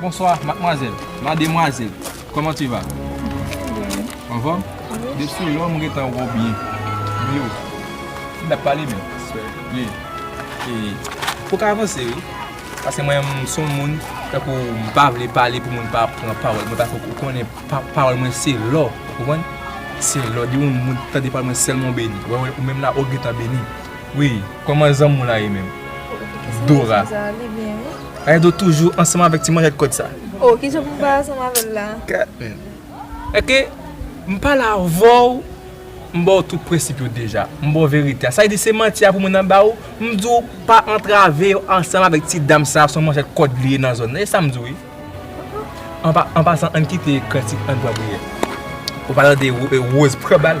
Bonswa madmwazèl, mademwazèl, kòman tu va? Trè byen. Anfòm? Wi. Depi lò m gentan wè w byen. Byen wi. N tap pale menm. Sè. Wi. E, ou ka avanse wi. Paske mwen m son moun, tankou m pa vle pale pou moun pa pran pawòl mwen paske ou konnen pawòl mwen se lò. Ou konprann? Se lò. Depi yon moun tande pawòl mwen sèlman ou beni. Ou wè ou menm la ou gentan beni. Wi. Kòman zanmi w la ye menm? Dora. Zanmi m César li byen wi. Raido toujou ansanm avèk ti manjèt kòd sa. Oh kijan pou m pa ansanm avèl la. Kat men. Ok m pale avèw m baw tout prensip yo deja m baw verite a sa vle di se manti a pou moun nan baw m diw pa antrave yo ansanm avèk ti dam sa son manjèt kòd li ye nan zòn nan e sam diw wi anpasan ann kite kritik ann pran priyè ou pa tande Rose pran bal.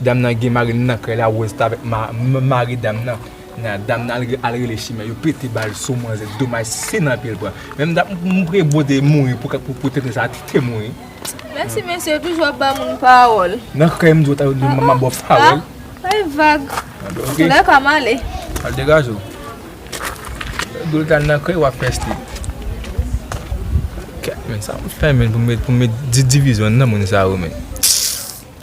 Dam nan gen mari nan kay la ou reste avec mari dam nan nan dam nan al rele chimè yo pete bal sou manzè domaj se nan pye l pran menm dam m priye bon Dieu mouri pou tenten sa te mouri. Mèsi mesye yo toujou ap ba moun pawòl. Nan kay m di w ta di m ap ba w pawòl. Bay vag. Souley pa m ale. Al degaje w. Di w ta nan kay w ap peste. Kèt men sa m fè men pou m met divizyon nan moun sa yo men.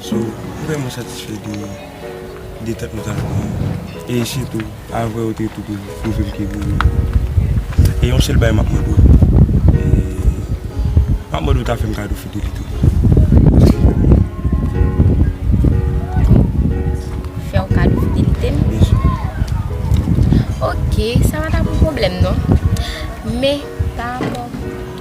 So m vreman satisfè de detant nou ta jwenn an e sitou avwe ou te tou pou pwouve m ke gou ou e yon sèl bagay m ap mande w m ap mande w ta fè m kado fidelite w. Fè w kado fidelite m? Byen si. Ok sa pa ta pou pwoblèm non men pa rapò.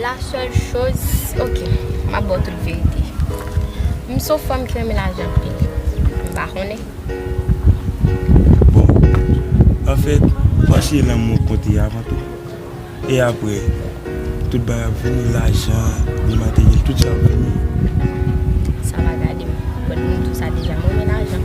La sèl choz ok map baw tout verite m son fanm ki renmen lajan anpil m pa konnen. Bon anfèt mache lanmou konte avan tou e aprè tout bagay ap vini lajan byen materyèl tout sa ap vini. Sa pa gadem bon moun tou sa deja m renmen lajan.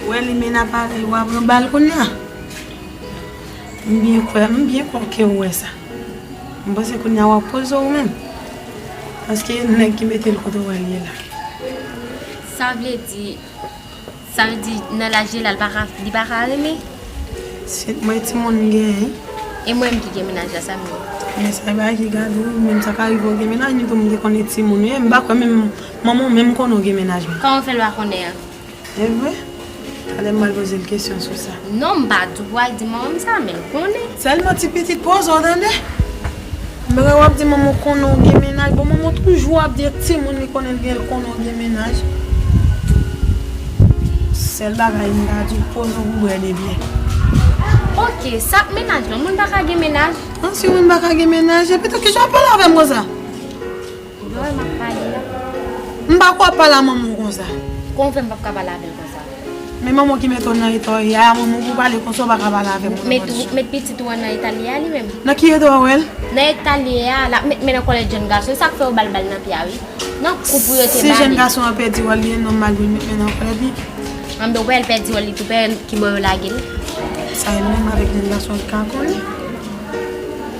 Ou wè limena pale wa pran bal kounya m byen kwè m byen kwè ke ou wè sa m panse kounya wap poze w menm paske nèg ki mete l kote w wè l ye la. Sa vle di. Sa vle di nan laj li la li pa ka renmen? Se t mwen timoun m genyen. E mwen m ki gen mennaj la sa m ye? Men sa e bagay ki gade w menm sa ka rive w gen mennaj men tou m te konn e timoun w ye m pa kwè menm manman w menm konnen w gen mennaj menm. Kòman w fè l pa konnen an? E vre? Talè m pral poze l kesyon sou sa. Non m pa dwa di manman m sa men l konnen. Sèlman ti pitit poze w tande. Mwen wap di manman w konnen w gen mennaj bon manman w toujou ap di timoun li konnen l gen l konnen w gen mennaj sèl bagay m ka di w poze w pou brèd e byè. Ok sa ak mennaj lan moun pa ka gen mennaj? An si moun pa ka gen mennaj e pito kijan w pale avè m konsa? Noel map pale ya. M pa kwè wap pale a manman w konsa. Kouman w fè m pap ka pale avè l konsa. Men manman w ki mete w nan eta w ye a, manman w pou w pale konsa w pa ka pale avè manman w. Met pitit ou an nan eta l ye a li menm. Nan ki eta w wè l? Nan eta l ye a, lap met men nan kòlèt jèn gason. E sak fè yo bal bal nan pye a wi. Nan kou pou yo te ba li. Si jèn gason an pèdi wòl li e nòmal pou l met men nan kòlèt li. Anben ou pa wè l pèdi wòl li tou, ou pa wè kibò yo lage l. Sa e menm avèk jèn gason li ka konnen.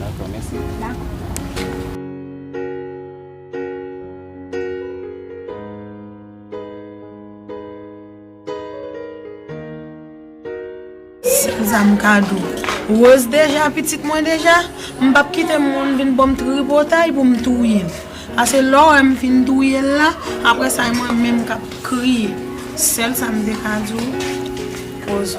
Dakò mèsi Kisa m ka di w Rose deja pitit mwen deja M pap kite moun vin banm tripotay pou m touye l Pase lè w wè m fin touye l la aprè sa e mwen menm k ap kriye Sèl sa m te ka di w Rose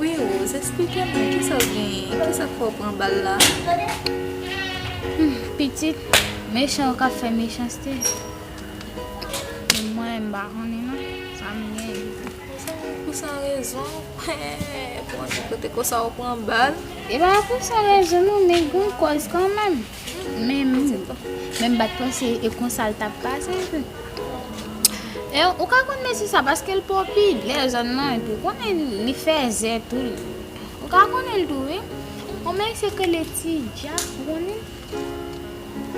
Wi Rose esplike mwen kisa ou genyen kisak fè ou pran bal la. Humm pitit mechan yo kap fè mechanste menm mwen menm mpa konnen non sam genyen. Epa pou san rezon ou pran bal. Epa pou san rezon non men gon kòz kanmenm. Menm menm bat panse e konsal tap pase tou. E ou ka konn mesye sa paske l popid lè zòn nan epi ou konnen li fèzè tou ou ka konnen l tou wi. On mesye k rele ti dja ou konnen?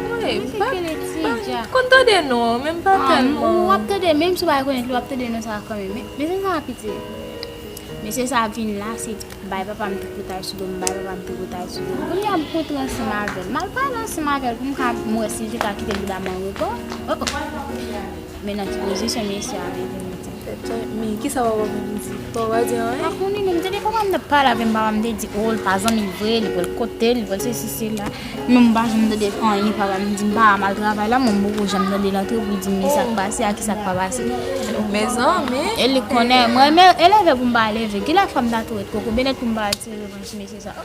Mwen pa konn tande non an men m pa tèlman. Ou ap tande menm si ou pa konn li w ap tande non sa kanmenm. Mesye sa piti. Mesye sa ap vin la se bay papa m tripotay sou do m bay papa m tripotay sou do m kounye a m kont ranse m avè l m al pale ranse m avè l pou m ka m wè si l te ka kite bouda m anrepo oh oh men nan ki pozisyon mesye a te vin di Tete men kisa papa m vin di papa m pa di anyen? Pa konnen non m te gen papa m t ap pale avè m papa m te di oh l pa zanmi l vre li wè l kote l li wè l sesi sela. Non m pa janm tande anyen papa m di m pa al mal travay la men m poko janm tande l antre pou l di m kisak pase ak kisak pa pase e li konnen m renmen eleve pou m pa eleve kilè fwa m ta tou ret kokobe nèt pou m pa al tire revanj sou mesye sa yo.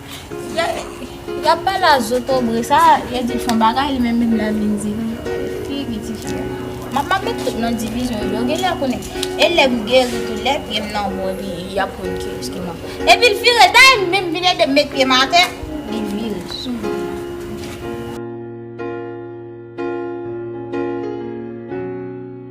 Yap pale a zotobre sa yo dil fon bagay li menm menm la vin di fi ki ti fi a map mape tout nan divizyon yo gen lè konnen e lèm geri tou lè pyem nan bon li yap konn kiyes ki man epil vire day menm vin edem met pyem atè li vire sou moun nan.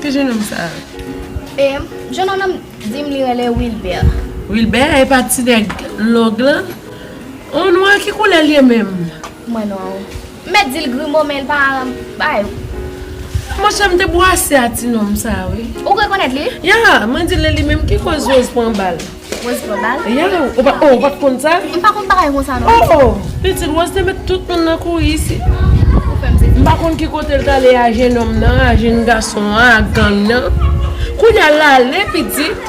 Ki jenòm sa a? E, jenòm nan di m li rele Wilbè. Wilbè? E pa ti nèg long lan? Ou nwa? Ki koulè l ye menm? Mwen nwa wi. M mèt di l grimo men l pa bay. Monchè, m te bwase a ti nonm sa a wi. Ou rekonèt li? Ya! Mwen di l e li menm ki koz Woz pran bal. Rose Global. Yow, ou pa, oh, ou pat konn sa? M pa konn bagay konsa non. Oh, oh, pitit Rose te met tout moun nan kouri isit. Ou fè m sezi. M pa konn ki kote l t ale a jenòm nan, a jenn gason an, a gang nan. Kounye a l ale pitit.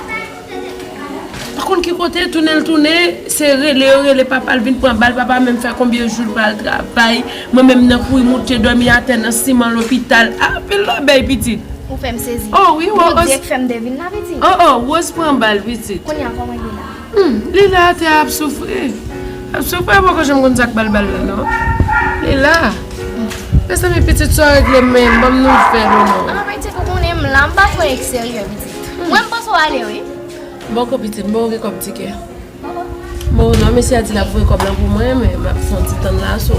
M pa konn ki kote l tounen l tounen, se rele yo rele papa l vin pran bal, papa menm fè konbyen jou l pa al travay. Mwen menm nan kouri moute domi atè nan siman lopital ah anpil lòbèy pitit. Ou fèm sezi. Oh wi oh oh. Direk fèm devine la pitit. Oh oh Rose pran bal pitit. Kounya kòman Lina. Humm Lina atè a ap soufri. Ap soufri a poko janm konn sak bal bal la non. Lila. Mezanmi pitit sa w regle menm banm nouvèl ou non. Ah pitit ou konnen m la m pa twò ekseryè pitit. Mwen m panse w ale wi. Boko pitit m bon ou gen kòb tikè. Bon non mesye a di lap voye kob lan pou mwen men map fon ti tann la so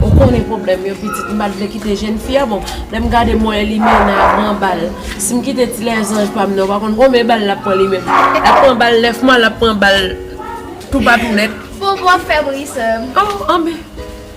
ou konnen problèm yo pitit m pat vle kite jèn fi a bon lèm gade mwen limena ap pran bal sim kite ti lèzanj pam nan ou pa konn konbyen bal lap pran li menm lap pran bal 9 mwa lap pran bal toupatou nèt. Bon bon fèm ri sèm. Oh anbyn.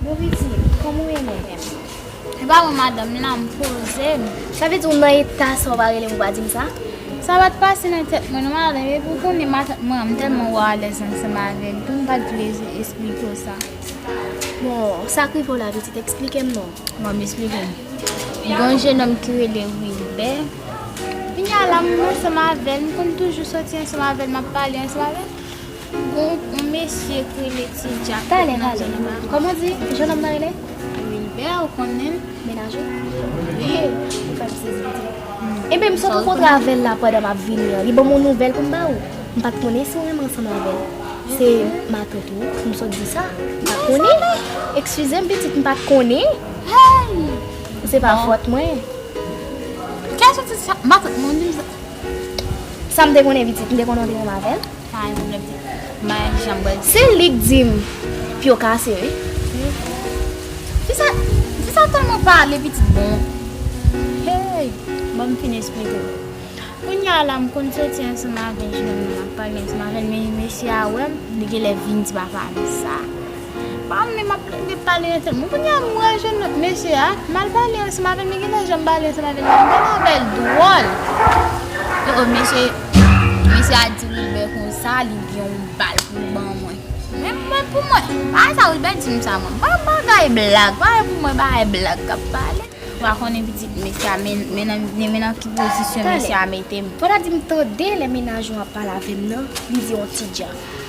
Bon pitit, kòman ou ye menm? Ou pa wè madanm m la, m poze m. Sa vle di ou nan eta sa ou pa rele m ou pa di m sa? Sa pa t pase nan tèt mwen non madanm, epi ou konnen matant mwen an, m tèlman wè w alèz ansanm avè l tou, m pa t vle esplike w sa. Bon, sa k rive w la pitit, esplike m non. Bon, m esplike w. Gen yon jenòm ki rele Wilbè, kounya la m ansanm avè l, m konn toujou soti ansanm avè l, m ap pale ansanm avè l. Gon on mesye k rele ti jack k ret nan zone bahamas. Koman di jen nonm nan rele? Wilber ou konnenl? Mennaj ou? Wi. Ou fem sezi wi ti moun. Enben m sot rankontre avel la pandan map vini an li banm on nouvel poum ba ou. M pat konnen si ou renmen ansanm avel. Se matant ou wi m sot di sa. M pat konnen. Eksizem pitit m pat konnen. Hey! Bon. Se pa fot mwen. Kiyes ou di sa? Matant mwen ou di m sa? Sam te konnen pitit m te konnen ou te renmen avel. Se lik dim pyo kase wi. Fisa telman pale pitit bon. Hey banm fin esplike w. Kounya la m konn soti ansanm avè jèn moun ap pale ansanm avè l men mesye a wè m li genlè vin di papa m sa. Pam menm ap ret pale ansèm mwen kounya m pral jwenn lòt mesye a m al pale ansanm avèl men gade janm pale ansanm avèl la m pale avèl dwòl oh oh mesye mesye a di Wilbert konsa li gen yon bal pou l ban mwen men mwen pou mwen bagay sa Wilbert di m sa mwen pa bagay blag bagay pou mwen bagay blag kap pale ou pa konnen pitit mesye a men men nan ki pozisyon mesye a mete m. Fò ta di m tande lè mennaj ou ap pale avèm nan li di yon ti dja.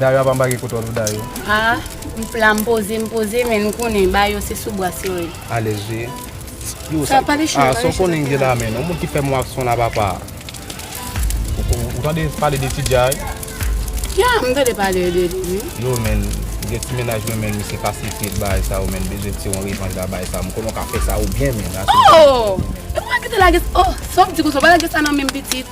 Dayo apa mpa gen kout òl pou dayo. Ah m la m poze m poze men nou konnen ba yo se sou bwa syo ye. Alèz vre. Yo sa ah sa w konnen m gen nan men non moun ki fè m wak son la papa. Ou tande pale de ti jay. Ya m tande pale de li wi. Yo menn gen ti mennaj mwen menn misye pa sifri bay sa yo menn bezwen ti yon revanj la bay sa yo m konnen w ka fè sa yo byen menn. Ohh epi w pa kite lage oh sa w di konsa w pa lage sa nan menm pitit.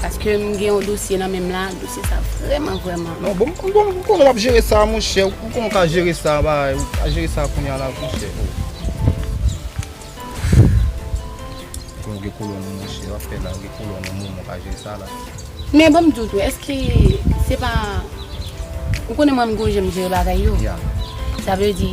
Paske m gen yon dosye nan menm la, dosye sa vrèman vrèman. Non bon, m konnen w ap jere sa a monchè, m konnen w ka jere sa a, ou ka jere sa a kounye a la monchè. M konnen w gen kolòn ou monchè, w ap fè la, ou gen kolòn ou moun, ou ka jere sa a la. Men ban m di w tou, èske se pa, ou konnen mwen m gen yon jan m jere bagay yo. Ya. Sa vle di.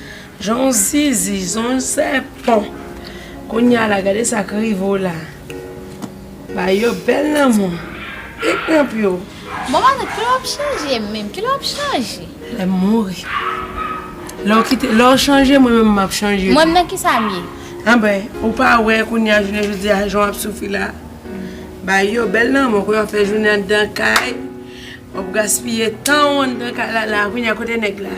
Jan w zizi son w sèpan. Kounya la gade sak rive w la. Ba yo bèl lanmou. Pik nan pye w. Bon matant kilè wap chanje menm kilè wap chanje. Lèm mouri. Lè w kite lè w chanje mwen menm map chanje tou. Mwen menm nan kisa m ye. Anben ou pa wè kounya jounen jodi a jan wap soufri la. Ba yo bèl lanmou kounya wap fè jounen anndan kay. Wap gaspiye tan w anndan kay la la kounya kote nèg la.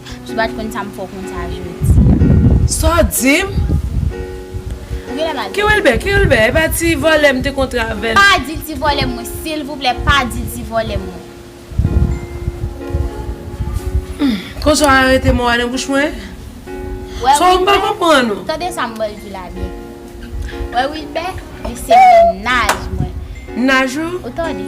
Ki bat konn sa m fè w konn sa jodi a. Sa w di m? Ou genlè mal tande. Kiwelbè, Kiwelbè, e pa ti vòlè m te kontre avè l? Pa di ti vòlè m mwen, silvouplè pa di ti vòlè m mwen. Konsa w arete mo a nan bouch mwen? Sa w pa konprann ou? Tande sa m ba w di la byen. Wè Wilbè, li se mennaj mwen. Mennaj ou? Ou tande?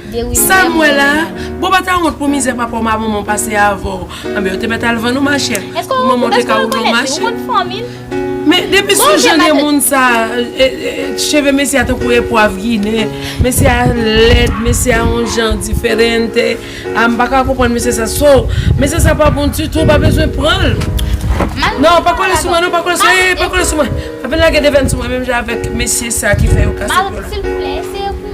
Sam wè la, bon pa ta wont pou mizè papaw ma manmanw pase avèw, anben yo te mèt al vann ou machè, pou manmanw te ka ouvè w mache. Men depi sou jan de moun sa, cheve mesye a tankou epwav ginen, mesye a lèd, mesye a yon jan diferente, a m paka konprann mesye sa, so mesye sa pa bon ditou, ou pa bezwen pran l. Non pa kole sou mwen non, pa kole sou mwen, eee pa kole sou mwen, pa vin lage devèn sou mwen menm jan avèk mesye sa ki fè yo kase kò la.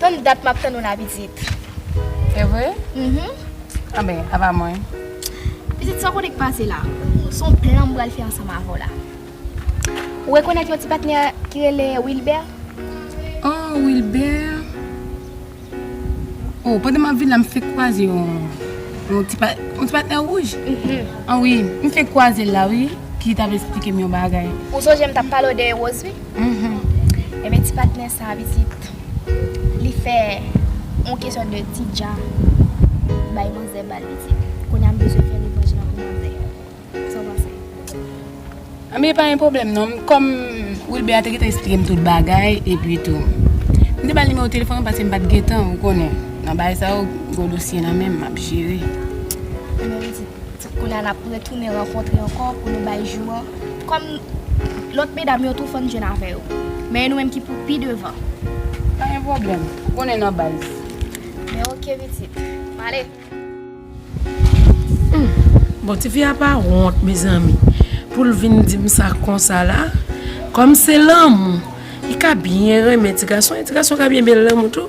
Tann dat map tann ou la pitit. Evre? Uhmm. Anben, aba mwen. Pitit sa w konnen k pase la. S on plan m pral fè ansanm avè w la. Ou rekonèt yon ti patnè ki rele Wilbè? Oh Wilbè? Oh pandan map vin la m fenk kwaze yon yon ti pa yon ti patnè wouj? Uhmm. An wi, m fenk kwaze l la wi ki t ap esplike m yon bagay. Ou sonje m t ap pale w de Rose wi? Mph Enben ti patnè sa a pitit li fè yon kesyon de ti dja bay manzè ba l pitit. Kounye a m bezwen fè revanj lan pou manzè. Sa w panse? Anben pa gen pwoblèm non. Kòm Wilber a te gentan esplike m tout bagay epitou m te ba l nimewo telefòn ou paske m pa t gen tan ou konnen nan bagay sa yo gwo dosye nan men m m ap jere. Anben pitit. Kounye a n ap retounen rankontre ankò pou nou bay jou an kòm lòt medam yo tou fann jwenn avè yo. Men e nou menm ki pou pi devan. Pa gen pwoblèm. Ou konnen nan baz. Men ok pitit. M ale. Humm bon tifi a pa wont mezanmi pou l vin di m sa konsa la. Kòm se lanmou li ka byen renmen ti gason e ti gason ka byen byen l lanmou tou.